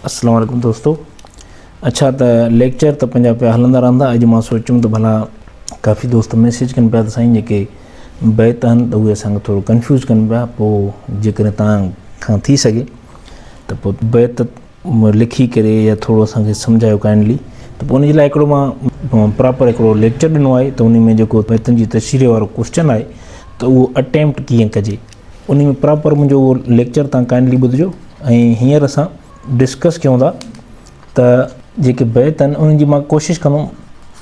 السلام عليڪم دوستو اڇا ته ليڪچر ته پنهنجا پيا هلندا رهندا اڄ مان سوچيم ته ڀلا ڪافي دوست ميسيج ڪن پيا ته سائين جيڪي بيت آهن ته اهي اسان کي ٿورو ڪنفيوز ڪن پيا پوء جيڪڏهن تان کان ٿي سگهي ته پوء بيت لکي ڪري يا ٿورو اسان کي سمجهايو ڪائنڊلي ته پوء ان جي لاء هڪڙو مان پراپر هڪڙو ليڪچر ڏنو آهي ته ان ۾ جيڪو بيتن جي تشريح وارو ڪوشچن آهي ته اهو اٽيمپٽ ڪيئن ڪجي انهي ۾ پراپر منهنجو اهو ليڪچر تهان ڪائنڊلي ٻڌجو ۽ هينئر اسان ڊسڪس ڪيون ٿا ته جيڪي بيت آهن انهن جي مان ڪوشش ڪندم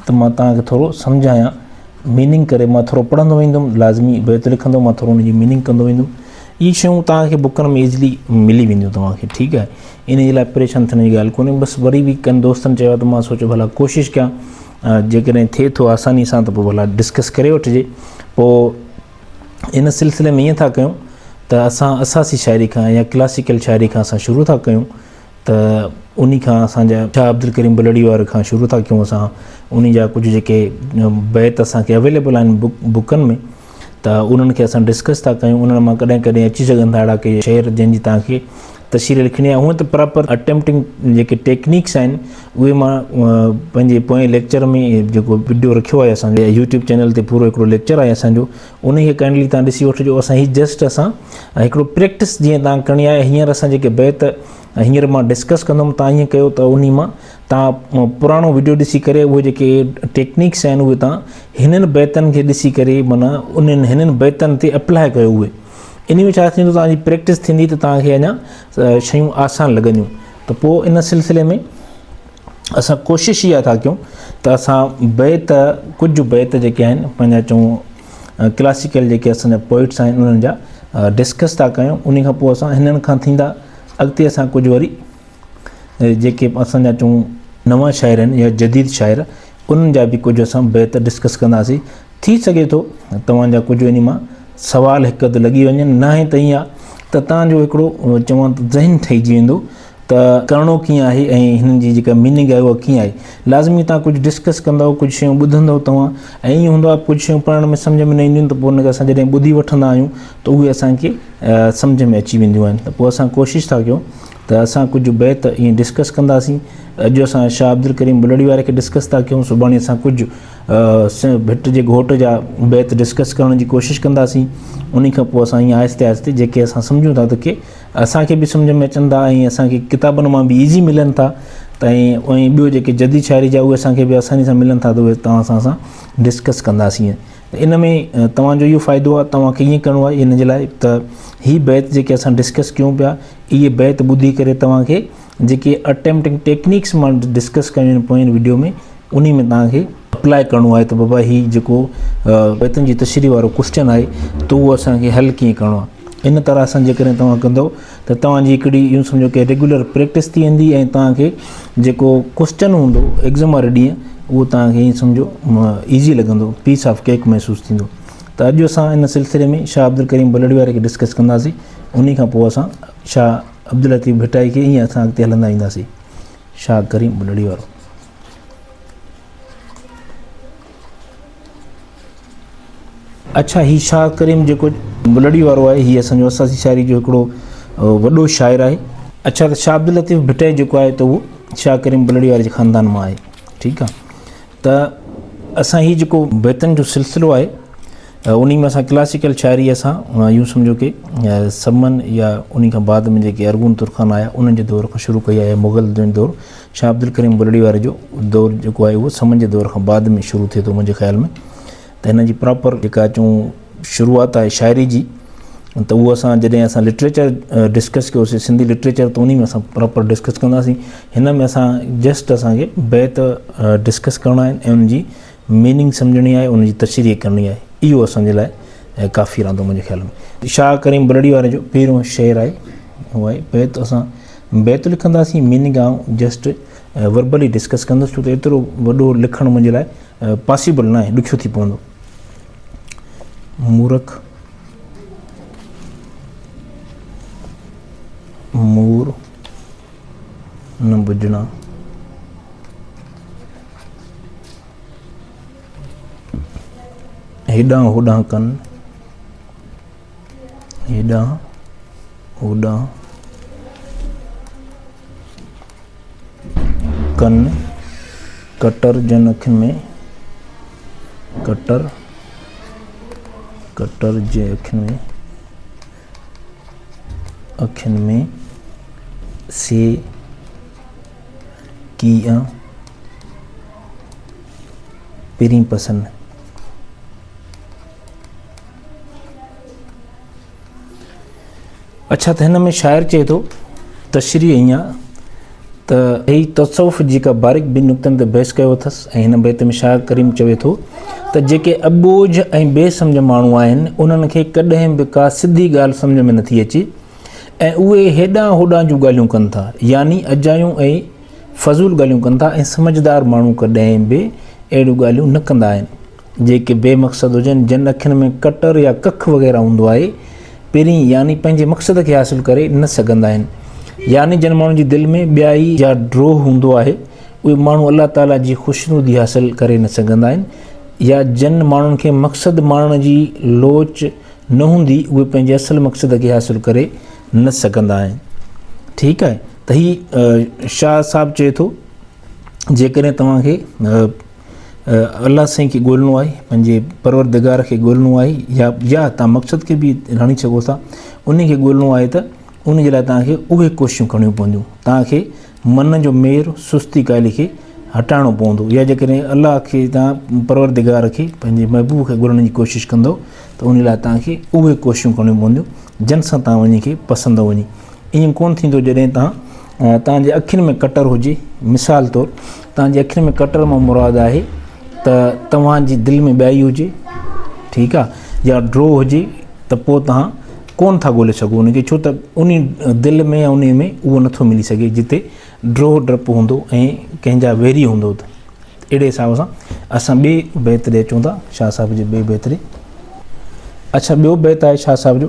ته مان تهان کي ٿورو سمجهايان ميننگ ڪري مان ٿورو پڙهندو ويندم لازمي بيت لکندو مان ٿورو انهن جي ميننگ ڪندو ويندم اهي شيون تهان کي بڪن ۾ ايزلي ملي وينديون توهان کي ٺيڪ آهي ان جي لاء پريشان ٿيڻ جي ڳالهه ڪونهي بس وري به ڪن دوستن چيو ته مان سوچو ڀلا ڪوشش ڪيان جيڪڏهن ٿئي ٿو آساني سان ته پوء ڀلا ڊسڪس ڪري وٺجي پوء ان سلسلي ۾ ائين ٿا ڪيون ته اسان اساسي شاعري کان يا ڪلاسيڪل شاعري کان اسان شروع ٿا ڪيون ته انهي کان اسان جا شاهه عبدالڪريم بلڙي واري کان شروع ٿا ڪيون اسان انهي جا ڪجهه جيڪي بيت اسان کي اويليبل آهن بوڪ بوڪن ۾ ته انهن کي اسان ڊسڪس ٿا ڪيون انهن مان ڪڏهن ڪڏهن اچي سگهن ٿا اهڙا ڪي شعر جن جي تهان کي تشريح لکڻي آهي هونء ته پراپر اٽيمپٽنگ جيڪي ٽيڪنيڪس آهن اهي مان پنهنجي پوئين ليڪچر ۾ جيڪو وڊيو رکيو آهي اسان جي يوٽيوب چينل تي پورو هڪڙو ليڪچر آهي اسان جو انهي کي ڪائنڊلي توهان ڏسي وٺجو اسان هي جسٽ اسان هڪڙو پريڪٽس جيئن توهان ڪرڻي آهي هينئر اسان جيڪي بيت هينئر مان ڊسڪس ڪندم توهان ائين ڪيو ته انهي مان توهان پراڻو وڊيو ڏسي ڪري اهي جيڪي ٽيڪنيڪس آهن اهي توهان هنن بيتن کي ڏسي ڪري معنيٰ انهن هنن بيتن تي اپلاء ڪيو اهي انهي ۾ ڇا ٿيندو توهان جي پريڪٽس ٿيندي ته توهان کي اڃا شيون آسان لڳنديون ته پوء ان سلسلي ۾ اسان ڪوشش اها ٿا ڪيون ته اسان بيت ڪجهه بيت جيڪي آهن پنهنجا چون ڪلاسيڪل جيڪي اسان جا پوئٽس آهن انهن جا ڊسڪس ٿا ڪيون ان کان پوء اسان هنن کان ٿيندا اڳتي اسان ڪجهه وري جيڪي اسان جا چون نوان شاعر آهن يا جديد شاعر انهن جا به ڪجهه اسان بيت ڊسڪس ڪنداسين ٿي سگهي ٿو توهان جا ڪجهه انهي مان سوال هڪ اڌ لڳي وڃن، ناهي ته ائين آهي ته توهان جو هڪڙو چوان ته ذهن ٺهجي ويندو ته ڪرڻو ڪيئن آهي ۽ هنن جي جيڪا ميننگ آهي اها ڪيئن آهي. لازمي توهان ڪجهه ڊسڪس ڪندؤ، ڪجهه شيون ٻڌندؤ توهان ۽ ائين هوندو آهي ڪجهه شيون پڙهڻ ۾ سمجهه ۾ نه اينديون ته پوء ان کي اسان جڏهن ٻڌي وٺندا آهيون ته اهي اسان کي سمجهه ۾ اچي وينديون آهن ته پوء اسان ڪوشش ٿا ڪيون ته اسان ڪجهه بيت ائين ڊسڪس ڪنداسين. اڄ اسان شاهه عبدالڪريم بلڙي واري کي ڊسڪس ٿا ڪيون سڀاڻي اسان ڪجهه ڀٽ جي گهوٽ جا بيت ڊسڪس ڪرڻ جي ڪوشش ڪنداسين انهي کان پوء اسان ائين آهستي آهستي جيڪي اسان سمجهون ٿا ته ڪي اسان کي به سمجهه ۾ اچن ٿا ۽ اسان کي ڪتابن مان به ايزي ملن ٿا ته ائين ٻيو جيڪي جديد شاعري جا اهي اسان کي به آساني سان ملن ٿا ته اهي توهان سان اسان ڊسڪس ڪنداسين ته ان ۾ توهان جو اهو فائدو آهي توهان کي ائين ڪرڻو آهي ان جي لاء ته هي بيت جيڪي اسان ڊسڪس ڪيون پيا اهي بيت ٻڌي ڪري توهان کي جيڪي اٽيمپٽنگ ٽيڪنيڪس مان ڊسڪس ڪيون آهن پوئين وڊيو ۾ انهي ۾ توهان کي اپلاء ڪرڻو آهي ته بابا هي جيڪو بيتن جي تشريح وارو ڪوشچن آهي ته اهو اسان کي حل ڪيئن ڪرڻو آهي ان طرح سان جيڪڏهن توهان ڪندو ته توهان جي هڪڙي ايون سمجهو ڪي ريگولر پريڪٽس ٿي ويندي ۽ توهان کي جيڪو ڪوشچن هوندو ايگزام واري ڏينهن اهو توهان کي ايئن سمجهو ايزي لڳندو پيس آف ڪيڪ محسوس ٿيندو ته اڄ اسان ان سلسلي ۾ شاهه عبدالڪريم بلڙي واري کي ڊسڪس ڪنداسين انهي کان پوء اسان شاهه عبداللطيف ڀٽائي کي ائين اسان اڳتي هلندا وينداسين شاهه ڪريم ٻلڙي وارو. اڇا هي شاهه ڪريم جيڪو ٻلڙي وارو آهي هي اسان جو اساسي شاعري جو هڪڙو وڏو شاعر آهي. اڇا ته شاهه عبداللطيف ڀٽائي جيڪو آهي ته اهو شاهه ڪريم ٻلڙي واري جي خاندان مان آهي ٺيڪ آهي ته اسان هي جيڪو بيتن جو سلسلو آهي انهيء ۾ اسان ڪلاسيڪل شاعريء سان يون سمجهو ڪي سمن يا انهيء کان بعد ۾ جيڪي ارغون ترخان آيا انهن جي دور کان شروع ڪئي آهي يا مغل جو دور شاهه عبدالڪريم بلڙي واري جو دور جيڪو آهي اهو سمن جي دور کان بعد ۾ شروع ٿئي ٿو منهنجي خيال ۾ ته هن جي پراپر جيڪا اچون شروعات آهي شاعري جي ته اهو اسان جڏهن اسان لٽريچر ڊسڪس ڪيوسي سنڌي لٽريچر ته انهي ۾ اسان پراپر ڊسڪس ڪنداسين هن ۾ اسان جسٽ اسانکي بيت ڊسڪس ڪرڻا آهن ۽ ان جي ميننگ سمجهڻي آهي ان جي تشريح ڪرڻي آهي اهو اسان جي لاء ڪافي رهندو منهنجي خيال ۾ شاهه ڪريم بلڙي واري جو پهريون شعر آهي هو آهي بيت اسان بيت لکنداسين ميننگ آئون جسٽ وربلي ڊسڪس ڪندس ڇو ته ايترو وڏو لکڻ منهنجي لاء پاسيبل نه آهي ڏکيو ٿي پوندو مورک مور نه بجنا هيڏانهن هوڏانهن ڪن، هيڏانهن هوڏانهن ڪن، ڪٽر جن اک ۾، ڪٽر، ڪٽر جي اک ۾. اکين ۾ سي ڪي آ پرين پسن اڇا ته هن ۾ شاعر چئي ٿو تشريح ائين آ ته هي تصوف جي ڪا باريڪ بين نڪتن تي بحث ڪيو اٿس ۽ هن بيت ۾ شاهه ڪريم چوي ٿو ته جيڪي اٻوجهه ۽ بي سمجهه ماڻهو آهن انهن کي ڪڏهن به ڪا سڌي ڳالهه سمجهه ۾ نٿي اچي ۽ اهي هيڏانهن هوڏانهن جون ڳالهيون ڪن ٿا يعني اجايون ۽ فضول ڳالهيون ڪن ٿا ۽ سمجهدار ماڻهو ڪڏهن به اهڙيون ڳالهيون نه ڪندا آهن جيڪي بي مقصد هجن، جن اکين ۾ ڪٽر يا ڪک وغيره هوندو آهي، پرين يعني پنهنجي مقصد کي حاصل ڪري نه سگهندا آهن. يعني جن ماڻهن جي دل ۾ ٻيائي يا ڊوهه هوندو آهي، اهي ماڻهو الله تعاليٰ جي خوشنودي حاصل ڪري نه سگهندا آهن يا جن ماڻهن کي مقصد ماڻڻ جي لوچ نه هوندي، اهي پنهنجي اصل مقصد کي حاصل ڪري نه سگهندا آهن. ٺيڪ آهي ته هي شاهه صاحب چئي ٿو جيڪڏهن توهان کي الله سائين کي ڳولڻو آهي پنهنجي پروردگار کي ڳولڻو آهي يا يا تان مقصد کي به رڻي سگهو ٿا انهي کي ڳولڻو آهي ته ان جي لاء تان کي اهي ڪوششون ڪرڻيون پونديون تان کي من جو مير سستي ڪالي کي هٽائڻو پوندو يا جيڪڏهن الله کي تان پروردگار کي پنهنجي محبوب کي ڳولڻ جي ڪوشش ڪندو ته ان لاء تان کي اهي ڪوششون ڪرڻيون پونديون جن سان تان وڃي کي پسندو وڃي ائين ڪون ٿيندو جڏهن تان توهان جي اکين ۾ ڪٽر هجي، مثال طور، توهان جي اکين ۾ ڪٽر مان مراد آهي ته توهان جي دل ۾ ٻيائي هجي، ٺيڪ آ، يا ڊرو هجي ته پوء توهان ڪونه ٿا ڳولي سگهو ان کي ڇو ته انهي دل ۾ يا انهي ۾ اهو نٿو ملي سگهي جتي ڊرو ڊپ هوندو ۽ ڪنهن جا ويري هوندو ته اهڙي حساب سان اسان ٻي بيت ڏي اچون ٿا شاهه صاحب جي ٻي بيت ڏي اڇا ٻيو بيت آهي شاهه صاحب جو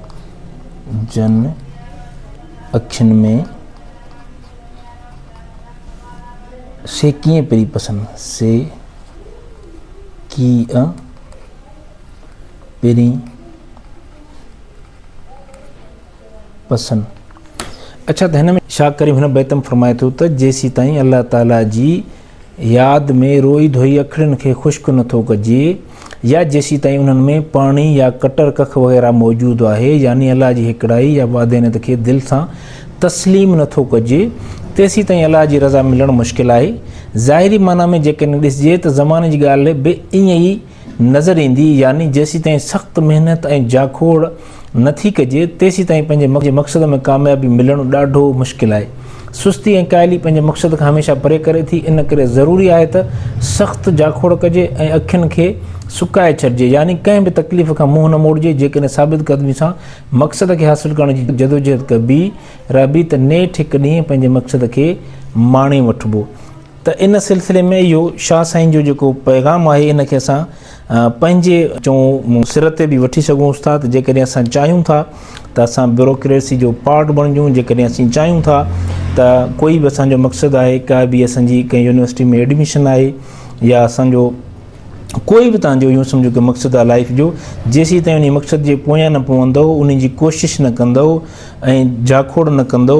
جن اکين ۾ سي ڪيئن پري پسن سي ڪيئن پري پسن اڇا ته هن ۾ شاهه ڪريم هن بيت ۾ فرمائي ٿو ته جيسيتائين الله تعالي جي ياد ۾ روئي ڌوئي اکڙين کي خشڪ نه ٿو ڪجي يا جيسيتائين انهن ۾ پاڻي يا ڪٽر ڪک وغيره موجود آهي يعني الله جي هڪڙائي يا واحدانيت کي دل سان تسليم نه ٿو ڪجي تيسيتائين الله جي رضا ملڻ مشڪل آهي ظاهري معنيٰ ۾ جيڪڏهن ڏسجي ته زماني جي ڳالهه به ائين ئي نظر ايندي يعني جيسيتائين سخت محنت ۽ جاکوڙ نه ٿي ڪجي تيسيتائين پنهنجي مقصد ۾ ڪاميابي ملڻ ڏاڍو مشڪل آهي سستي ۽ ڪاهلي پنهنجي مقصد کان هميشه پري ڪري ٿي ان ڪري ضروري آهي ته سخت جاکوڙ ڪجي ۽ اکين کي سڪائي ڇڏجي يعني ڪنهن به تڪليف کان منهن نه موڙجي جيڪڏهن ثابت قدمي سان مقصد کي حاصل ڪرڻ جي جدوجهد ڪبي رهبي ته نيٺ هڪ ڏينهن پنهنجي مقصد کي ماڻي وٺبو ته ان سلسلي ۾ اهو شاهه سائين جو جيڪو پيغام آهي ان کي اسان پنهنجي چون سر تي به وٺي سگهون ٿا ته جيڪڏهن اسان چاهيون ٿا ته اسان بيوروڪريسي جو پارٽ بڻجون جيڪڏهن اسين چاهيون ٿا ته ڪوئي به اسان جو مقصد آهي ڪا به اسان جي ڪنهن يونيورسٽي ۾ ايڊميشن آهي يا اسان جو ڪوئي به تان جو يون سمجهو ڪي مقصد آهي لائف جو جيسي تائين ان مقصد جي پويان نه پوندو ان جي ڪوشش نه ڪندو ۽ جاکوڙ نه ڪندو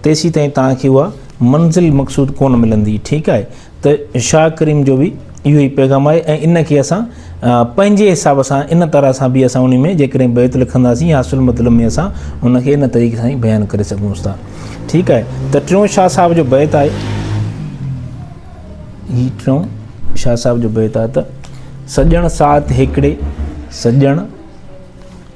تيسيتائين توهان کي اها منزل مقصود ڪونه ملندي ٺيڪ آهي ته شاهه ڪريم جو به اهو ئي پيغام آهي ۽ ان کي اسان پنهنجي حساب سان ان طرح سان به اسان ان ۾ جيڪڏهن بيت لکنداسين يا اصل مطلب ۾ اسان ان کي ان طريقي سان بيان ڪري سگهون ٿا ٺيڪ آهي ته ٽيون شاهه صاحب جو بيت آهي هي ٽيون شاهه صاحب جو بيت آهي ته سڄڻ ساٿ هيڪڙي سڄڻ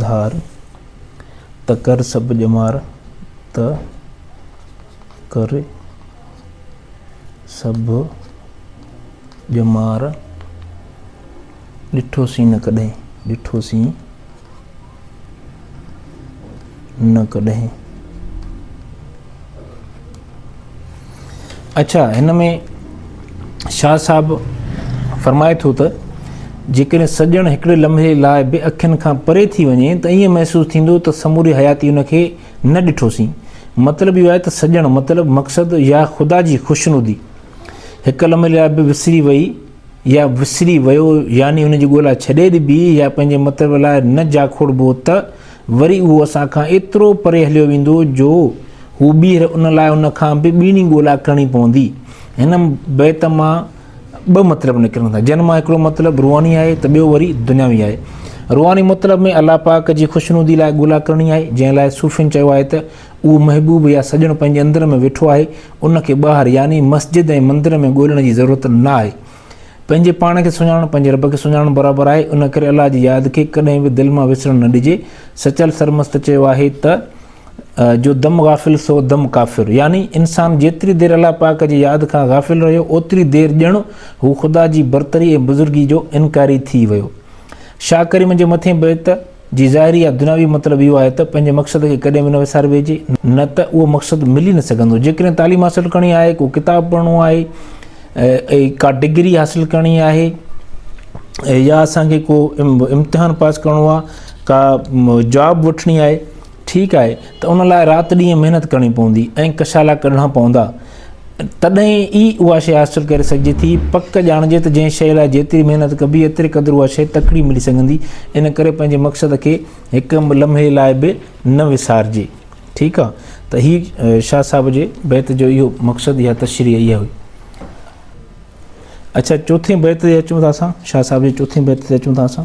ڌار، ته ڪر سڀ ڄمار، ته ڪر سڀ ڄمار، ڏٺو سين نه ڪڏهن، ڏٺو سين نه ڪڏهن. اڇا هن ۾ شاهه صاحب فرمائي ٿو ته جيڪڏهن سڄڻ هڪڙي لمحي لاء به اکين کان پري ٿي وڃي ته ائين محسوس ٿيندو ته سموري حياتي ان کي نه ڏٺوسين مطلب اهو آهي ته سڄڻ مطلب مقصد يا خدا جي خوشنودي هڪ لمحي لاء به وسري وئي يا وسري ويو يعني ان جي ڳولا ڇڏي ڏبي يا پنهنجي مطلب لاء نه جاکوڙبو ته وري اهو اسان کان ايترو پري هليو ويندو جو هو ٻيهر ان لاء ان کان به ٻيڻي ڳولا ڪرڻي پوندي. هن بيت مان ٻه مطلب نڪرن ٿا، جن مان هڪڙو مطلب روحاني آهي ته ٻيو وري دنياوي آهي. روحاني مطلب ۾ الله پاڪ جي خوشنودي لاء ڳولا ڪرڻي آهي، جنهن لاء صوفين چيو آهي ته اهو محبوب يا سڄڻ پنهنجي اندر ۾ ويٺو آهي، ان کي ٻاهر يعني مسجد ۽ مندر ۾ ڳولڻ جي ضرورت نه آهي. پنهنجي پاڻ کي سڃاڻڻ پنهنجي رب کي سڃاڻڻ برابر آهي، ان ڪري الله جي ياد کي ڪڏهن به دل مان وسرڻ نه ڏجي. سچل سرمست چيو آهي ته، جو دم غافل سو دم ڪافر. يعني انسان جيتري دير الله پاڪ جي ياد کان غافل رهيو، اوتري دير ڄڻ هو خدا جي برتري ۽ بزرگي جو انڪاري ٿي ويو. شاهه ڪريم جي مٿين بيت. جي ظاهري يا دنياوي مطلب اهو آهي ته پنهنجي مقصد کي ڪڏهن به نه وساري ويهجي، نه ته اهو مقصد ملي نه سگهندو. جيڪڏهن تعليم حاصل ڪرڻي آهي، ڪو ڪتاب پڙهڻو آهي، ڪا ڊگري حاصل ڪرڻي آهي يا اسان کي ڪو امتحان پاس ڪرڻو آهي، ڪا جاب وٺڻي آهي، ٺيڪ آهي ته ان لاء رات ڏينهن محنت ڪرڻي پوندي ۽ ڪشالا ڪڍڻا پوندا. تڏهن ئي اها شيء حاصل ڪري سگهجي ٿي. پڪ ڄاڻجي ته جنهن شيء لاء جيتري محنت ڪبي ايتري قدر اها شيء تڪڙي ملي سگهندي. ان ڪري پنهنجي مقصد کي هڪ لمحي لاء به نه وسارجي. ٺيڪ آهي ته هي شاهه صاحب جي بيت جو اهو مقصد يا تشريح اها هئي. اڇا چوٿين بيت تي اچون ٿا اسان شاهه صاحب جي چوٿين بيت تي اچون ٿا اسان.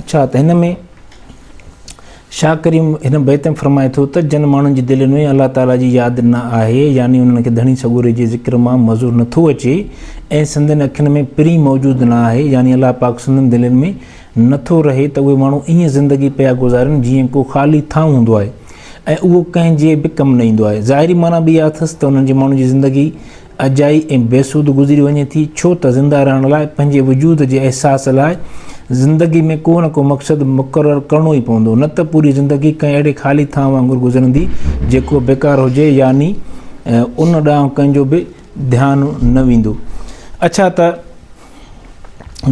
اڇا ته هن ۾ شاهه ڪريم هن بيت ۾ فرمائي ٿو ته جن ماڻهن جي دلين ۾ الله تعاليٰ جي ياد نه آهي يعني انهن کي ڌڻي سڳوري جي ذڪر مان مزو نٿو اچي ۽ سندن اکين ۾ پرين موجود نه آهي يعني الله پاڪ سندن دلين ۾ نٿو رهي ته اهي ماڻهو ائين زندگي پيا گذارين جيئن ڪو خالي ٿانو هوندو آهي ۽ اهو ڪنهن جي به ڪم نه ايندو آهي ظاهري معنيٰ به اها اٿس ته انهن جي ماڻهن جي زندگي اجائي ۽ بيسود گذري وڃي ٿي، ڇو ته زنده رهڻ لاء، پنهنجي وجود جي احساس لاء، زندگي ۾ ڪو نه ڪو مقصد مقرر ڪرڻو ئي پوندو، نه ته پوري زندگي ڪنهن اهڙي خالي ٿانء وانگر گذرندي، جيڪو بيڪار هجي، يعني ان ڏانهن ڪنهن جو به ڌيان نه ويندو. اڇا ته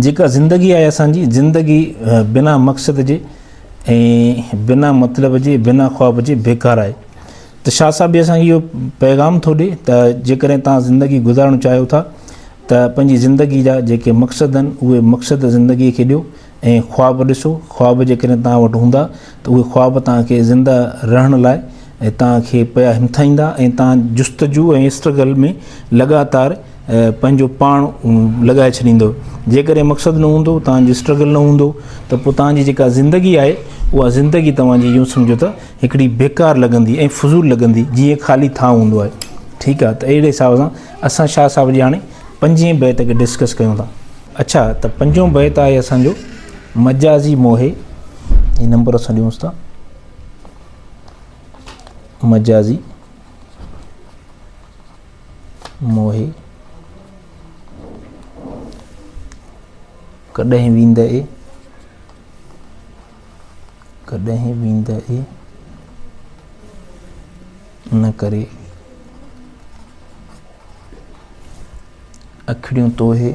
جيڪا زندگي آهي اسان جي، زندگي بنا مقصد جي ۽ بنا مطلب جي، بنا خواب جي بيڪار آهي. ته شاهه صاحب به اسان کي اهو پيغام ٿو ڏي ته جيڪڏهن توهان زندگي گذارڻ چاهيو ٿا ته پنهنجي زندگي جا جيڪي مقصد آهن اهي مقصد زندگي کي ڏيو ۽ خواب ڏسو خواب جيڪڏهن توهان وٽ هوندا ته اهي خواب توهان کي زنده رهڻ لاء توهان کي پيا همٿائيندا ۽ توهان جستجو ۽ اسٽرگل ۾ لڳاتار پنهنجو پاڻ لڳائي ڇڏيندو جيڪڏهن مقصد نه هوندو توهان جو اسٽرگل نه هوندو ته پوء توهان جي جيڪا زندگي آهي اها زندگي توهان جي يون سمجهو ته هڪڙي بيڪار لڳندي ۽ فضول لڳندي جيئن خالي ٿانو هوندو آهي ٺيڪ آهي ته اهڙي حساب سان اسان شاهه صاحب جي هاڻي پنجين بيت کي ڊسڪس ڪيون ٿا اڇا ته پنجون بيت آهي اسان جو مجازي موهي هي نمبر اسان ڏيونس ٿا مجازي موهي ڪڏهن ويندئي ڪڏهن ويندئي ان ڪري اکڙيون توهي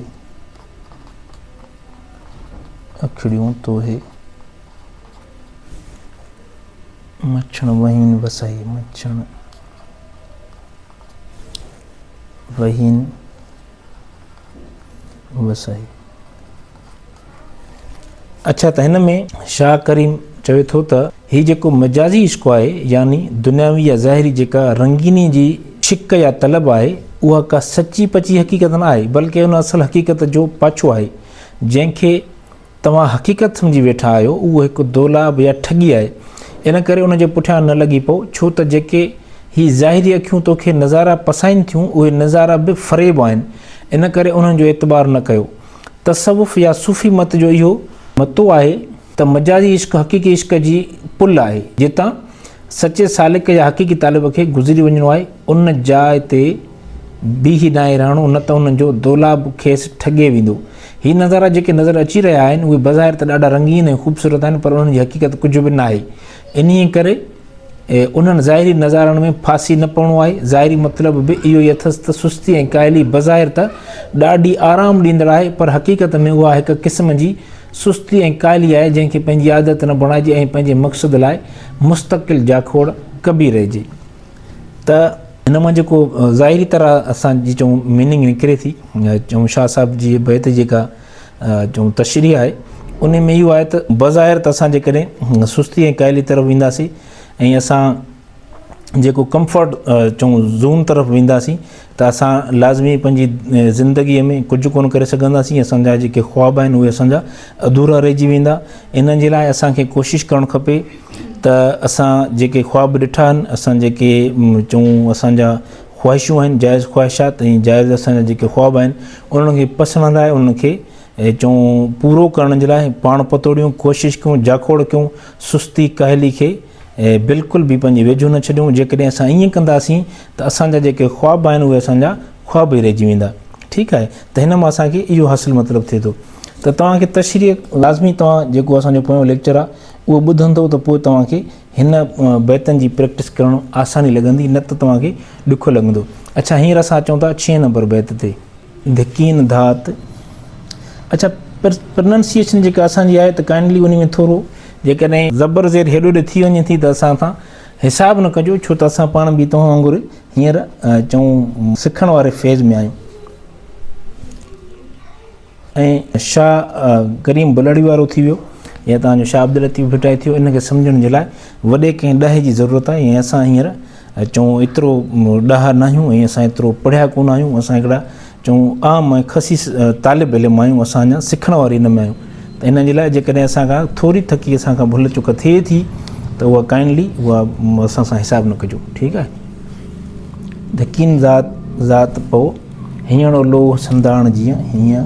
اکڙيون توهي مڇڻ وهين وسائي مڇڻ وهين بس سائين اڇا ته هن ۾ شاهه ڪريم چوي ٿو ته هي جيڪو مجازي عشق آهي يعني دنياوي يا ظاهري جيڪا رنگيني جي شڪ يا طلب آهي اها ڪا سچي پچي حقيقت نه آهي بلڪه ان اصل حقيقت جو پاڇو آهي جنهن کي توهان حقيقت سمجهي ويٺا آهيو، اهو هڪ دولاب يا ٺڳي آهي، ان ڪري ان جي پٺيان نه لڳي پئو، ڇو ته جيڪي هي ظاهري اکيون توکي نظارا پسائين ٿيون، اهي نظارا به فريب آهن، ان ڪري انهن جو اعتبار نه ڪيو. تصوف يا صوفي مت جو اهو. متو آهي ته مجازي عشق حقيقي عشق جي پل آهي، جتان سچي سالڪ يا حقيقي طالب کي گذري وڃڻو آهي، ان جاء تي. بيهي دانهين رهڻو نه ته هن جو دولاب کيس ٺڳي ويندو. هي نظارا جيڪي نظر اچي رهيا آهن اهي بظاهر ته ڏاڍا رنگين ۽ خوبصورت آهن پر انهن جي حقيقت ڪجهه به ناهي. انهيء ڪري انهن ظاهري نظارن ۾ ڦاسي نه پوڻو آهي. ظاهري مطلب به اهو ئي اٿس ته سستي ۽ ڪاهلي بظاهر ته ڏاڍي آرام ڏيندڙ آهي پر حقيقت ۾ اها هڪ قسم جي سستي ۽ ڪاهلي آهي جنهن کي پنهنجي عادت نه بڻائجي ۽ پنهنجي مقصد لاء مستقل جاکوڙ ڪبي رهجي. ته ان مان جيڪو ظاهري طرح اسان جي چون ميننگ نڪري ٿي چون شاهه صاحب جي بيت جي جيڪا چون تشريح آهي ان ۾ اهو آهي ته بظاهر ته اسان جيڪڏهن سستي ۽ ڪاهلي طرف وينداسين ۽ اسان جيڪو ڪمفرٽ چون زون طرف وينداسين ته اسان لازمي پنهنجي زندگيء ۾ ڪجهه ڪونه ڪري سگهنداسين، اسان جا جيڪي خواب آهن اهي اسان جا اڌورا رهجي ويندا، انهن جي لاء اسان کي ڪوشش ڪرڻ کپي ته اسان جيڪي خواب ڏٺا آهن، اسان جيڪي چئون اسان جا خواهشون آهن، جائز خواهشات ۽ جائز اسان جا جيڪي خواب آهن انهن کي پسڻ لاء انهن کي چئون پورو ڪرڻ جي لاء پاڻ پتوڙيون، ڪوشش ڪيون، جاکوڙ ڪيون، سستي ڪاهلي کي. هي بلڪل به پنهنجي ويجهو نه ڇڏيون، جيڪڏهن اسان ائين ڪنداسين ته اسان جا جيڪي خواب آهن اهي اسان جا خواب ئي رهجي ويندا. ٺيڪ آهي ته هن مان اسان کي اهو حاصل مطلب ٿئي ٿو ته توهان کي تشريح لازمي توهان جيڪو اسان جو پويون ليڪچر آهي اهو ٻڌندؤ ته پوء توهان کي هن بيتن جي پريڪٽس ڪرڻ آساني لڳندي نه ته توهان کي ڏکيو لڳندو. اڇا هينئر اسان اچون ٿا ڇهين نمبر بيت تي. ڌڪين ڌات اڇا پرننسيئيشن جيڪا اسان جي آهي ته ڪائنڊلي انهي ۾ ٿورو جيڪڏهن زبر زير هيڏو هوڏي ٿي وڃي ٿي ته اسان سان حساب نه ڪجو ڇو ته اسان پاڻ به توهان وانگر هينئر چون سکڻ واري فيز ۾ آهيون ۽ شاهه ڪريم بلڙي وارو ٿي ويو يا تان جو شاهه عبداللطيف ڀٽائي ٿيو ان کي سمجهڻ جي لاء وڏي ڪنهن ڏاهي جي ضرورت آهي ۽ اسان هينئر چون ايترو ڏاها ناهيون ۽ اسان ايترو پڙهيا ڪونه آهيون اسان هڪڙا چون عام ۽ خسيس طالب علم آهيون اسان اڃان سکڻ واري ان ۾ آهيون ته ان جي لاء جيڪڏهن اسان کان ٿوري ٿڪي اسان کان ڀل چڪ ٿئي ٿي ته اها ڪائنڊلي اها اسان سان حساب نه ڪجو ٺيڪ آهي ڌڪين ذات ذات پئو هيڻو لوهه سنداڻ جيئن هيئن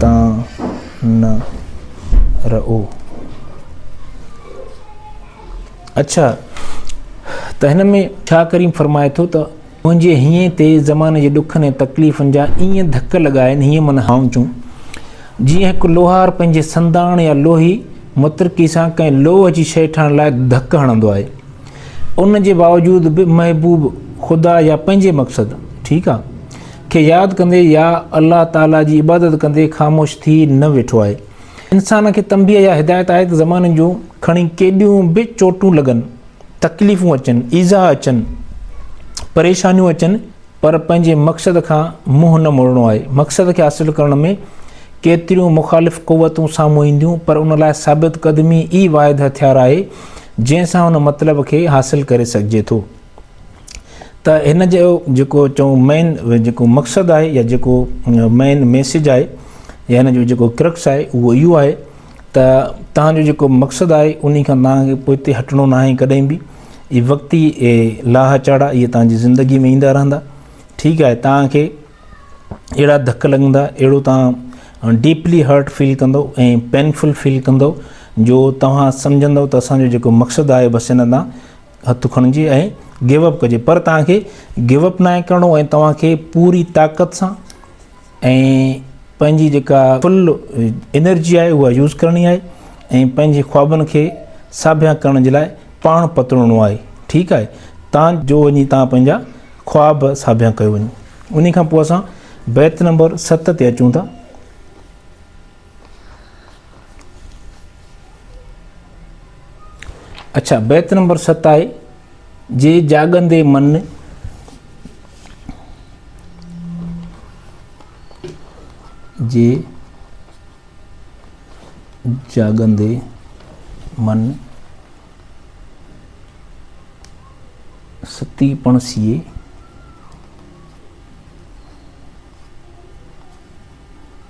تان نه رئو. اڇا ته هن ۾ شاهه ڪريم فرمائي ٿو ته منهنجي هينئين تي زماني جي ڏکن ۽ تڪليفن جا ايئن ڌڪ لڳا آهن هيئن من هائونچون جيئن هڪ لوهار پنهنجي سنداڻ يا لوهي مترڪي سان ڪنهن لوهه جي شيء ٺاهڻ لاء ڌڪ هڻندو آهي ان جي باوجود به محبوب خدا يا پنهنجي مقصد ٺيڪ آهي کي ياد ڪندي يا الله تعاليٰ جي عبادت ڪندي خاموش ٿي نه ويٺو آهي. انسان کي تنبيهه يا هدايت آهي ته زماني جون کڻي ڪيڏيون به چوٽون لڳن، تڪليفون اچن، ايذاء اچن، پريشانيون اچن پر پنهنجي مقصد کان منهن نه موڙڻو آهي. مقصد کي حاصل ڪرڻ ۾ ڪيتريون مخالف قوتون سامهون اينديون پر ان لاء ثابت قدمي ئي واحد هٿيار آهي جنهن سان ان مطلب کي حاصل ڪري سگهجي ٿو. ته هن جو جيڪو چئون مين جيڪو مقصد آهي يا جيڪو مين ميسيج آهي يا هن جو جيڪو ڪرڪس آهي اهو اهو آهي ته تان جو جيڪو مقصد آهي انهي کان تان کي پوئتي هٽڻو نه آهي ڪڏهن به اي وقتي اي لاهه چاڙا اي تان جي زندگي ۾ ايندا رهندا ٺيڪ آهي تان کي اهڙا ڌڪ لڳندا اهڙو تان ڊيپلي هرٽ فيل ڪندو اي پينفل فيل ڪندو جو توهان سمجهندو ته اسان جو جيڪو مقصد آهي بس ان تان هٿ کڻجي ۽ گيو اپ ڪجي پر توهان کي گيو اپ ناهي ڪرڻو ۽ توهان کي پوري طاقت سان ۽ پنهنجي جيڪا فل انرجي آهي اها يوز ڪرڻي آهي ۽ پنهنجي خوابن کي ساڀيان ڪرڻ جي لاء پاڻ پترڻو آهي ٺيڪ آهي تان جو وڃي تان پنهنجا خواب ساڀيان ڪيو وڃي ان کان پوء اسان بيت نمبر ست تي اچون ٿا اڇا بيت نمبر ست آهي جي جاڳندي من جي جاڳندي من ستي پڻ سيئي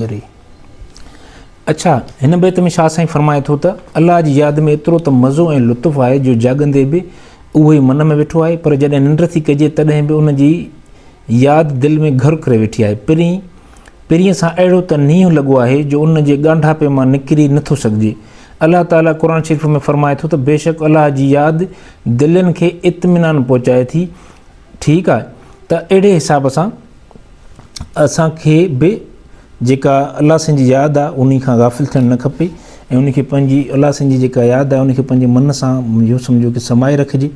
گري. اڇا، هن بيت ۾ شاهه سائين فرمائي ٿو ته، الله جي ياد ۾ ايترو ته مزو ۽ لطف آهي جو جاڳندي به اهو ئي من ۾ ويٺو آهي پر جڏهن ننڊ ٿي ڪجي تڏهن به ان جي ياد دل ۾ گهر ڪري ويٺي آهي. پرين پرينء سان اهڙو ته نينهن لڳو آهي جو ان جي ڳانڍاپي مان نڪري نه ٿو سگهجي. الله تعاليٰ قرآن شريف ۾ فرمائي ٿو ته بيشڪ الله جي ياد دلين کي اطمينان پهچائي ٿي. ٺيڪ آهي ته اهڙي حساب سان. اسان کي به جيڪا الله سائين جي ياد آ انهي کان غافل ٿيڻ نه کپي ۽ انهي کي پنهنجي الله سائين جي جيڪا ياد آ انهي کي پنهنجي من سان يو سمجهو کي سمائي رکجي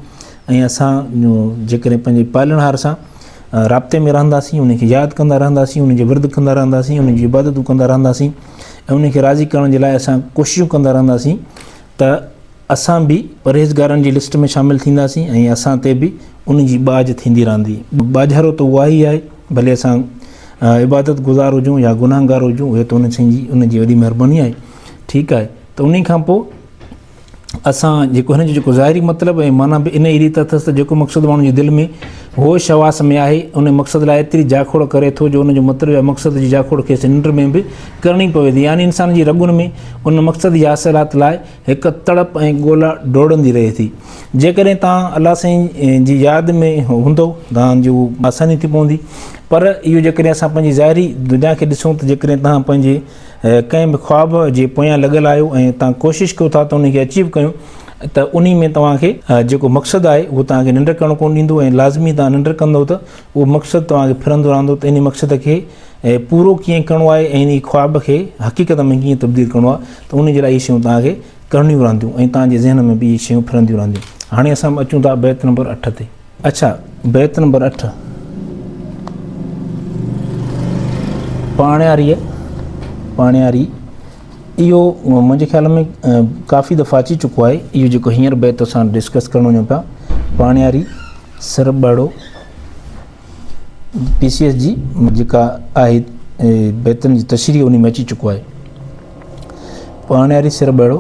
۽ اسان جيڪڏهن پنهنجي پالڻهار سان رابطي ۾ رهنداسين انهي کي ياد ڪندا رهنداسين انهي جي ورد ڪندا رهنداسين انهي جي عبادتون ڪندا رهنداسين ۽ انهي کي راضي ڪرڻ جي لاء اسان ڪوششون ڪندا رهنداسين ته اسان به پرهيزگارن جي لسٽ ۾ شامل ٿينداسين ۽ اسان تي به ان جي ٻاجهه ٿيندي رهندي. ٻاجهارو ته اها ئي آهي، ڀلي اسان عبادت گذار هجون يا گنهگار هجون، اهي ته ان سائين جي ان جي وڏي مهرباني آهي. ٺيڪ آهي ته انهي کان پوء اسان جيڪو هن جو جيڪو ظاهري مطلب ۽ معنيٰ به انهي ريت اٿس ته جيڪو مقصد ماڻهو جي دل ۾ هوش حواس ۾ آهي، انهي مقصد لاء ايتري جاکوڙ ڪري ٿو جو ان جو مطلب يا مقصد جي جاکوڙ کيس ننڊ ۾ به ڪرڻي پوي ٿي يعني انسان جي رڳن ۾ ان مقصد جي حاصلات لاء هڪ تڙپ ۽ ڳولا ڊوڙندي رهي ٿي جيڪڏهن توهان الله سائين جي ياد ۾ هوندو توهان جي اهو آساني ٿي پوندي پر اهو جيڪڏهن اسان پنهنجي ظاهري دنيا کي ڏسون ته جيڪڏهن توهان پنهنجي ڪنهن به خواب جي پويان لڳل آهيو ۽ توهان ڪوشش ڪيو ٿا ته ان کي اچيو ڪيون ته انهي ۾ توهان کي جيڪو مقصد آهي اهو توهان کي ننڊ ڪرڻ ڪونه ڏيندو ۽ لازمي توهان ننڊ ڪندو ته اهو مقصد توهان کي ڦرندو رهندو ته انهي مقصد کي پورو ڪيئن ڪرڻو آهي ۽ انهي خواب کي حقيقت ۾ ڪيئن تبديل ڪرڻو آهي ته انهي جي لاء اهي شيون توهان کي ڪرڻيون رهنديون ۽ توهان جي ذهن ۾ به اهي شيون ڦرنديون رهنديون هاڻي اسان اچون ٿا بيت نمبر اٺ تي اڇا بيت نمبر اٺ پاڻياري پاڻياري اهو منهنجي خيال ۾ ڪافي دفعا اچي چڪو آهي اهو جيڪو هينئر بيت اسان ڊسڪس ڪرڻ وڃون پيا پاڻياري سر ٻاڙو پي سي ايس جي جيڪا آهي بيتن جي تشريح ان ۾ اچي چڪو آهي پاڻياري سر ٻاڙو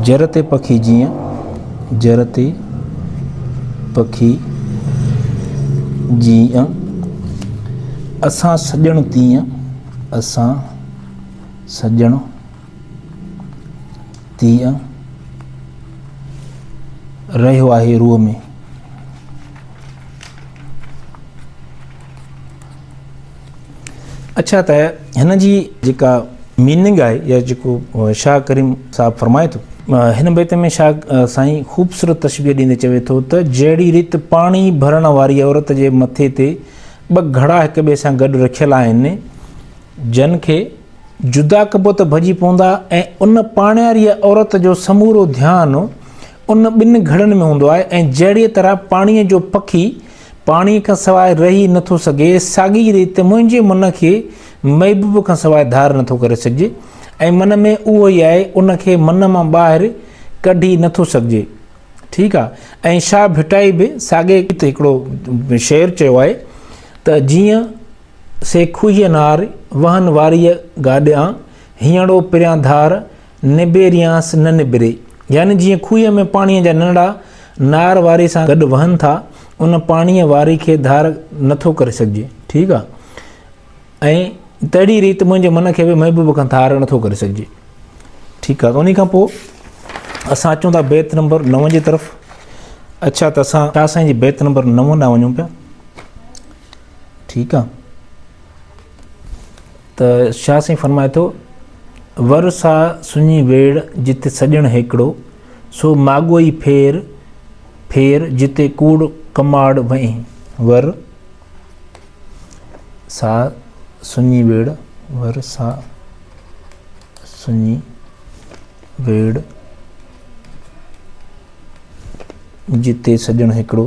جر تي پکي جيئن جر تي پکي جيئن اسان سڄڻ تيئن اسان سڄڻ تيئن رهيو آهي روح ۾ اڇا ته هن جي جيڪا ميننگ آهي يا جيڪو شاهه ڪريم صاحب فرمائي ٿو هن بيت ۾ شاهه سائين خوبصورت تشبيح ڏيندي چوي ٿو ته جهڙي ريت پاڻي ڀرڻ واري عورت جي مٿي تي ٻه گهڙا هڪ ٻئي سان گڏ رکيل آهن جن کي جدا ڪبو ته ڀڄي پوندا ۽ ان پاڻياريء عورت جو سمورو ڌيان ان ٻن گهڙن ۾ هوندو آهي ۽ جهڙيء طرح پاڻيء جو پکي پاڻيء کان سواء رهي نه ٿو سگهي، ساڳيء ريت منهنجي من کي محبوب کان سواء ڌار نه ٿو ڪري سگهجي ۽ من ۾ اهو ئي آهي، ان کي من مان ٻاهر ڪڍي نه ٿو سگهجي. ٺيڪ آهي. ۽ شاهه ڀٽائي به ساڳئي ريت هڪڙو شعر چيو آهي ته جيئن. سي کوهيء نار، وهن واريء گاڏيان، هينئڙو پريان ڌار، نبيريانس نه نبري. يعني جيئن کوهيء ۾ پاڻيء جا ننڙا نار واري سان گڏ وهن ٿا، ان پاڻيء واري کي ڌار نٿو ڪري سگهجي. ٺيڪ آ. ۽ تهڙي ريت منهنجي من کي به محبوب کان ڌار نٿو ڪري سگهجي. ٺيڪ آ. ته انهيء کان پوء اسان اچون ٿا بيت نمبر نو جي طرف. اڇا ته اسان شاهه سائين جي بيت نمبر نو ڏانهن وڃون پيا. ٺيڪ آ ته شاهه سائين فرمائي ٿو ور سا سڃي ويڙ جت سڄڻ هيڪڙو سو ماڳوئي ڦير ڦير جتي ڪوڙ ڪماڙ وئين ور سا سڃي ويڙ ور سا سڃي ويڙ جتي سڄڻ هيڪڙو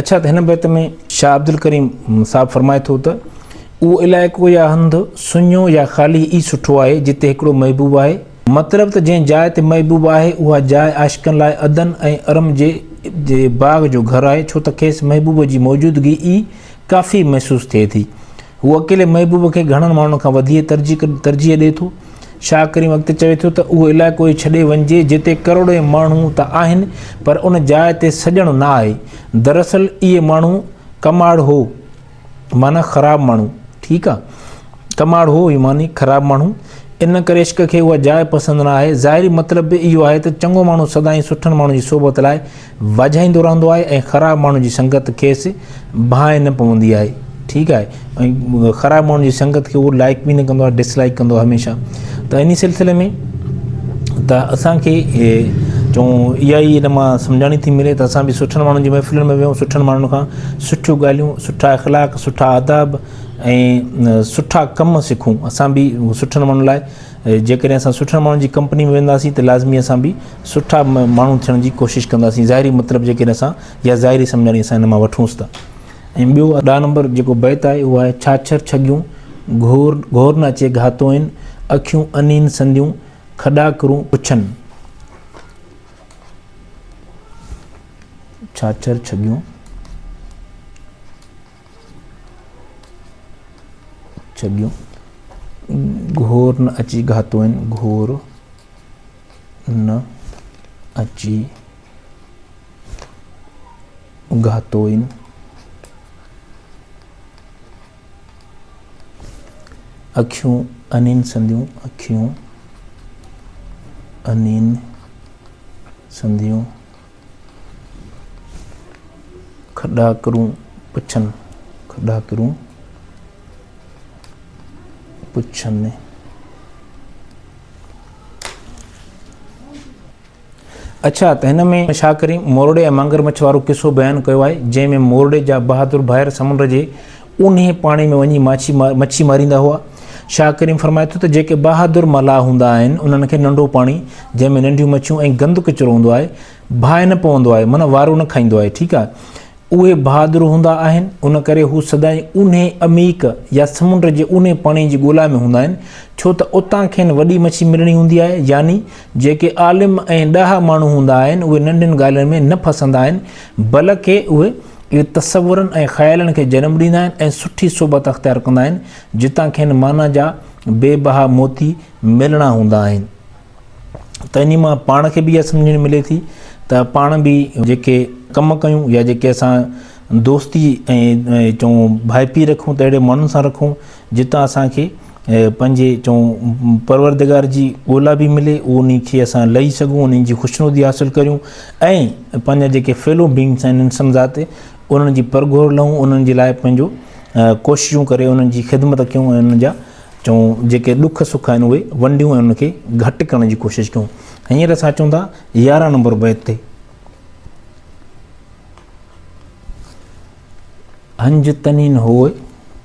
اڇا ته هن بيت ۾ شاهه عبدالڪريم صاحب فرمائي ٿو ته اهو علائقو يا هنڌ سڃو يا خالي ئي سٺو آهي جتي هڪڙو محبوب آهي مطلب ته جنهن جاء تي محبوب آهي اها جاء عاشقن لاء عدن ۽ ارم جي باغ جو گهر آهي ڇو ته کيس محبوب جي موجودگي ئي ڪافي محسوس ٿئي ٿي هو اڪيلي محبوب کي گهڻن ماڻهن کان وڌيڪ ترجيح ڏي ٿو شاهه ڪريم اڳتي چوي ٿو ته اهو علائقو ئي ڇڏي وڃجي جتي ڪروڙين ماڻهو ته آهن پر ان جاء تي سڄڻ نه آهي. دراصل اهي ماڻهو ڪماڙ هو معنيٰ خراب ماڻهو ٺيڪ آ ڪماڙ هو هي معني خراب ماڻهو ان ڪري عشق کي اها جاء پسند نه آهي ظاهري مطلب به اهو آهي ته چڱو ماڻهو سدائين سٺن ماڻهن جي صحبت لاء واجهائيندو رهندو آهي ۽ خراب ماڻهن جي سنگت کيس ڀانء نه پوندي آهي ٺيڪ آهي ۽ خراب ماڻهن جي سنگت کي اهو لائڪ به نه ڪندو آهي ڊس لائڪ ڪندو هميشه ته انهي سلسلي ۾ ته اسان کي چون اها ئي ان مان سمجهاڻي ٿي ملي ته اسان به سٺن ماڻهن جي محفلن ۾ ويهون سٺن ماڻهن کان سٺيون ڳالهيون سٺا اخلاق سٺا آداب ۽ سٺا ڪم سکون اسان به سٺن ماڻهن لاء جيڪڏهن اسان سٺن ماڻهن جي ڪمپني ۾ وينداسين ته لازمي اسان به سٺا ماڻهو ٿيڻ جي ڪوشش ڪنداسين ظاهري مطلب جيڪڏهن اسان يا ظاهري سمجهاڻي اسان هن مان وٺونس ته ۽ ٻيو ڏهه نمبر جيڪو بيت آهي اهو آهي ڇاڇر ڇڳيون گهور گهور نه اچي گهاتوئين اکيون انين سنديون کڏاڪرون پڇن ڇاڇر ڇڳيون ڇڏيون گهور نه اچي گهاتو آهن گهور نه اچي گهاتو آهن اکيون انين سنديون اکيون انين سنديون کڏاکرون پڇن کڏاکرون پڇن اڇا ته هن ۾ شاهه ڪريم مورڙي ۽ مانگر مڇ وارو قصو بيان ڪيو آهي جنهن ۾ مورڙي جا بهادر ڀائر سمنڊ جي اونهي پاڻي ۾ وڃي مڇي ماريندا هئا. شاهه ڪريم فرمائي ٿو ته جيڪي بهادر ملاح هوندا آهن، انهن کي ننڍو پاڻي، جنهن ۾ ننڍيون مڇيون ۽ گند ڪچرو هوندو آهي، باهه نه پوندو آهي، معنيٰ وارو نه کائيندو آهي، ٺيڪ آهي. اهي بهادر هوندا آهن، ان ڪري هو سدائين اونهي عميق يا سمنڊ جي اونهي پاڻي جي ڳولا ۾ هوندا آهن، ڇو ته اتان کين وڏي مڇي ملڻي هوندي آهي. يعني جيڪي عالم ۽ ڏاها ماڻهو هوندا آهن، اهي ننڍين ڳالهين ۾ نه ڦسندا آهن، بلڪ اهي اهي تصورن ۽ خيالن کي جنم ڏيندا آهن ۽ سٺي صحبت اختيار ڪندا آهن، جتان کين معنيٰ جا بي بها موتي ملڻا هوندا آهن ته انهي مان پاڻ کي به اها سمجهڻ ملي ٿي ته پاڻ به جيڪي ڪم ڪيون يا جيڪي اسان دوستي ۽ چئون ڀائپي رکون ته اهڙي ماڻهن سان رکون جتان اسان کي پنهنجي چئون پروردگار جي ڳولا به ملي انهي کي اسان لهي سگهون انهن جي خوشنودي حاصل ڪريون ۽ پنهنجا جيڪي فيلو بينگس آهن انسان ذات انهن جي پرگهور لهون انهن جي لاء پنهنجو ڪوششون ڪري انهن جي خدمت ڪيون ۽ انهن جا چون جيڪي ڏک سک آهن اهي ونڊيون ۽ ان کي گهٽ ڪرڻ جي ڪوشش ڪيون هينئر اسان چون ٿا يارهن نمبر بيت تي هنج تنين هوء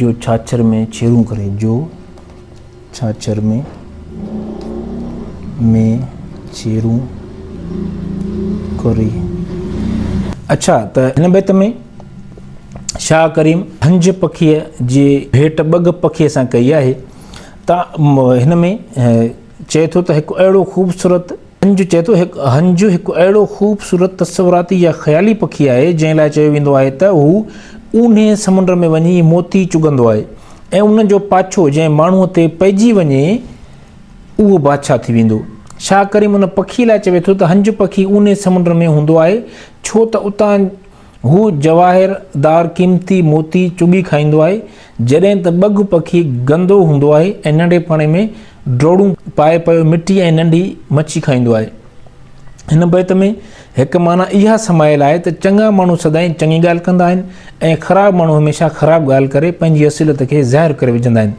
جو ڇاڇر ۾ ڇيرون ڪري جو ڇاڇر ۾ ۾ ڇيرون ڪري. اڇا ته هن بيت ۾ شاهه ڪريم هنج پکيء جي ڀيٽ ٻگهه پکيء سان ڪئي آهي ته هن ۾ چئي ٿو ته هڪ اهڙو خوبصورت هنجو چئي ٿو، هنجو هڪ اهڙو خوبصورت تصوراتي يا خيالي پکي آهي، جنهن لاء چيو ويندو آهي ته هو اونهي سمنڊ ۾ وڃي موتي چڳندو آهي ۽ ان جو پاڇو جنهن ماڻهوء تي پئجي وڃي اهو بادشاهه ٿي ويندو. شاهه ڪريم ان پکي لاء چوي ٿو ته هنجو پکي اونهي سمنڊ ۾ هوندو آهي ڇو ته اتان هو جواهر دار قيمتي موتي چڳي کائيندو آهي، جڏهن ته ٻگهه پکي گندو هوندو آهي ۽ ننڍي پڻي ۾ ڊوڙون پائي پيو مٽي ۽ ننڍي مڇي کائيندو آهي. هن بيت ۾ هڪ معنيٰ اها سمايل آهي ته چڱا ماڻهو سدائين چڱي ڳالهه ڪندا آهن ۽ خراب ماڻهو هميشه خراب ڳالهه ڪري پنهنجي اصليت کي ظاهر ڪري وجهندا آهن.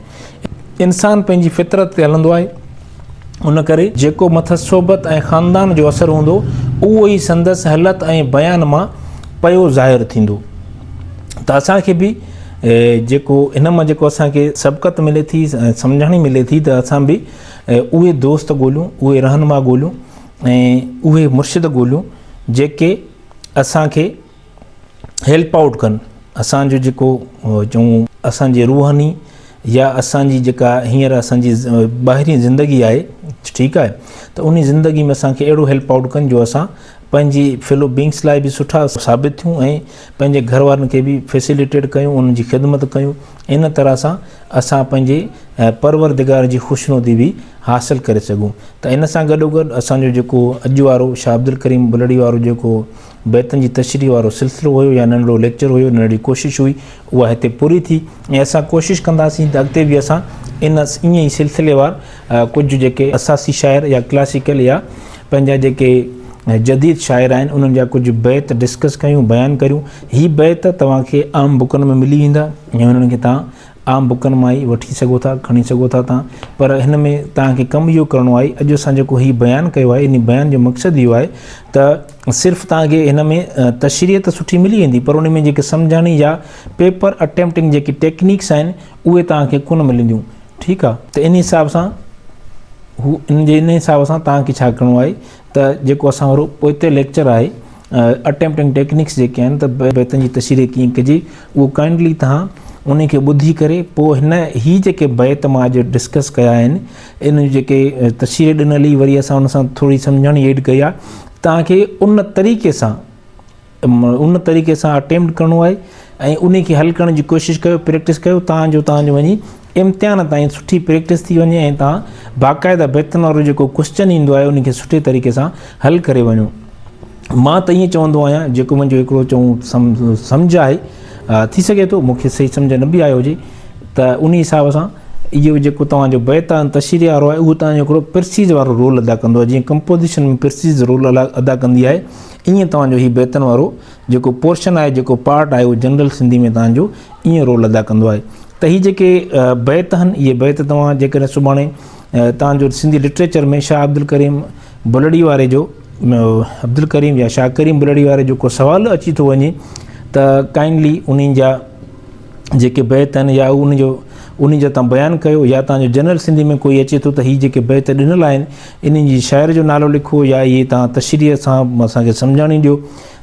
انسان پنهنجي فطرت تي هلندو آهي، ان ڪري جيڪو مٿس صحبت ۽ خاندان جو اثر هوندو، اهو ئي سندس هلت ۽ بيان مان پيو ظاهر ٿيندو. ته اسان کي به جيڪو هن مان جيڪو اسان کي سبقت ملي ٿي ۽ سمجهاڻي ملي ٿي ته اسان به اهي دوست ڳوليون، اهي رهنما ڳوليون ۽ اهي مرشد ڳوليون جيڪي اسان کي هيلپ آئوٽ ڪن اسان جو جيڪو چون اسان جي روحاني يا اسان جي جيڪا هينئر اسان جي ٻاهرين زندگي آهي ٺيڪ آهي ته ان زندگي ۾ اسان کي اهڙو هيلپ آئوٽ ڪن جو اسان پنهنجي فيلو بينگس لاء به سٺا ثابت ٿيون ۽ پنهنجي گهر وارن کي به فيسيليٽيڊ ڪيون انهن جي خدمت ڪيون ان طرح سان اسان پنهنجي پرورودگار جي خوشنودي به حاصل ڪري سگهون ته ان سان گڏوگڏ اسان جو جيڪو اڄ وارو شاهه عبدالڪريم بلڙي وارو جيڪو بيتن جي تشريح وارو سلسلو هيو يا ننڍڙو ليڪچر هيو، ننڍڙي ڪوشش هئي، اها هتي پوري ٿي ۽ اسان ڪوشش ڪنداسين ته اڳتي به اسان ان ائين ئي سلسليوار ڪجهه جيڪي اساسي شاعر يا ڪلاسيڪل يا پنهنجا جيڪي جديد شاعر آهن انهن جا ڪجهه بيت ڊسڪس ڪيون، بيان ڪريون. هي بيت توهان کي عام بڪن ۾ ملي ويندا ۽ انهن کي توهان عام بڪن مان ئي وٺي سگهو ٿا، کڻي سگهو ٿا توهان. پر هن ۾ توهان کي ڪم اهو ڪرڻو آهي، اڄ اسان جيڪو هي بيان ڪيو آهي، انهي بيان جو مقصد اهو آهي ته. صرف توهان کي هن ۾ تشريح ته سٺي ملي ويندي پر ان ۾ جيڪي سمجهاڻي يا پيپر اٽيمپٽنگ جيڪي ٽيڪنيڪس آهن اهي توهان کي ڪونه ملنديون ٺيڪ آهي ته ان حساب سان هو ان جي ان حساب سان توهان کي ڇا ڪرڻو آهي ته جيڪو اسان وارو پوئتي ليڪچر آهي اٽيمپٽنگ ٽيڪنيڪس جيڪي آهن ته بيتن جي تشريح ڪيئن ڪجي اهو ڪائنڊلي توهان ان کي ٻڌي ڪري پوء هن هي جيڪي بيت مان اڄ ڊسڪس ڪيا آهن ان جي جيڪي تشريح ڏنل هئي وري اسان ان سان ٿوري سمجهاڻي ايڊ ڪئي آ توهان کي ان طريقي سان ان طريقي سان اٽيمپٽ ڪرڻو آهي ۽ ان کي حل ڪرڻ جي ڪوشش ڪيو پريڪٽس ڪيو تان جو تان جو وڃي امتحان تائين سٺي پريڪٽس ٿي وڃي ۽ تان باقاعده بيتن وارو جيڪو ڪوشچن ايندو آهي ان کي سٺي طريقي سان حل ڪري وڃو مان ته ائين چوندو آهيان جيڪو منهنجو هڪڙو چڱو سمجهه آهي، ٿي سگهي ٿو مون کي صحيح سمجهه نه به آيو هجي، ته انهي حساب سان اهو جيڪو توهان جو بيت آهي تشريح وارو آهي اهو توهان جو هڪڙو پرسيز وارو رول ادا ڪندو آهي جيئن ڪمپوزيشن ۾ پرسيز رول ادا ڪندي آهي ائين توهان جو هي بيتن وارو جيڪو پورشن آهي جيڪو پارٽ آهي اهو جنرل سنڌي ۾ توهان جو ائين رول ادا ڪندو آهي ته هي جيڪي بيت آهن اهي بيت توهان جيڪڏهن سڀاڻي توهان جو سنڌي لٽريچر ۾ شاهه عبدالڪريم بلڙي واري جو عبدالڪريم يا شاهه ڪريم بلڙي واري جو ڪو سوال اچي ٿو وڃي ته ڪائنڊلي انهن جا جيڪي بيت آهن يا ان جو ان جا تان بيان ڪيو يا تان جو جنرل سنڌي ۾ کوئی اچي تو ته هي جيڪي بيت ڏنل آهن انهن جي شاعر جو نالو لکو يا هي تان تشريح سان اسان کي سمجهاڻي ڏيو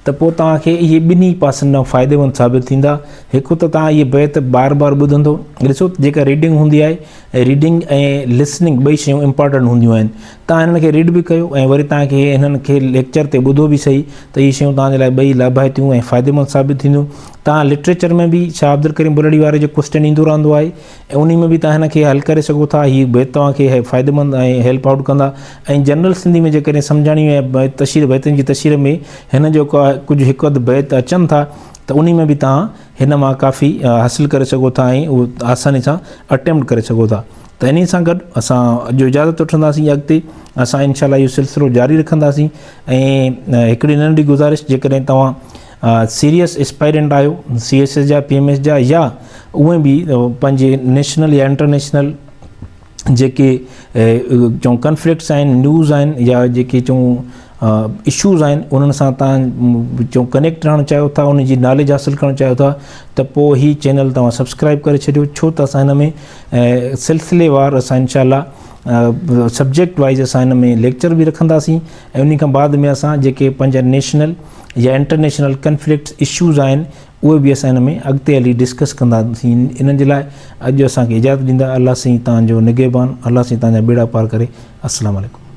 ته پو تان کي هي ٻنهي پاسن ڏانهن فائديمند ثابت ٿيندا هڪ ته تان هي بيت بار بار ٻڌندو ڏسو جيڪا ريڊنگ هوندي آهي ريڊنگ ۽ لسننگ ٻئي شيون امپارٽنٽ هونديون آهن توهان هنن کي ريڊ به ڪيو ۽ وري توهان کي هنن کي ليڪچر تي ٻڌو به سهي ته اهي شيون توهان جي لاء ٻئي لاڀائتيون ۽ فائديمند ثابت ٿينديون. توهان لٽريچر ۾ به شاهه عبدالڪريم بلڙي واري جو ڪوسٽين ايندو رهندو آهي ۽ انهي ۾ به توهان هن کي حل ڪري سگهو ٿا. هي بيت توهان کي فائديمند ۽ هيلپ آئوٽ ڪندا ۽ جنرل سنڌي ۾ جيڪڏهن سمجهاڻي ۽ تشهير بيتن جي تشهير ۾ هنن جو ڪجهه هڪ اڌ بيت اچن ٿا ته انهي ۾ به توهان هن مان ڪافي حاصل ڪري سگهو ٿا ۽ اهو آساني سان اٽيمپٽ ڪري سگهو ٿا. ته انهي سان گڏ اسان اڄ اجازت وٺنداسين ۽ اڳتي اسان انشاء الله اهو سلسلو جاري رکنداسين ۽ هڪڙي ننڍڙي گذارش جيڪڏهن توهان سيريس اسپائرنٽ آهيو سي ايس ايس جا پي ايم ايس جا يا اوهين به پنهنجي نيشنل يا انٽرنيشنل جيڪي چون ڪنفلڪٽس آهن نيوز آهن يا جيڪي چون اشوز آهن انهن سان تان چون ڪنيڪٽ رهڻ چاهيو ٿا ان جي ناليج حاصل ڪرڻ چاهيو ٿا ته پوء هي چينل توهان سبسڪرائب ڪري ڇڏيو ڇو ته اسان هن ۾ ۽ سلسلي وار اسان انشاء الله سبجيڪٽ وائيز اسان ان ۾ ليڪچر به رکنداسين ۽ انهي کان بعد ۾ اسان جيڪي پنهنجا نيشنل يا انٽرنيشنل ڪنفلڪٽس اشوز آهن اهي به اسان ان ۾ اڳتي هلي ڊسڪس ڪنداسين انهن جي لاء اڄ اسان کي اجازت ڏيندا الله سائين توهان جو نگهبان الله سائين توهان جا ٻيڙا پار ڪري السلام عليڪم.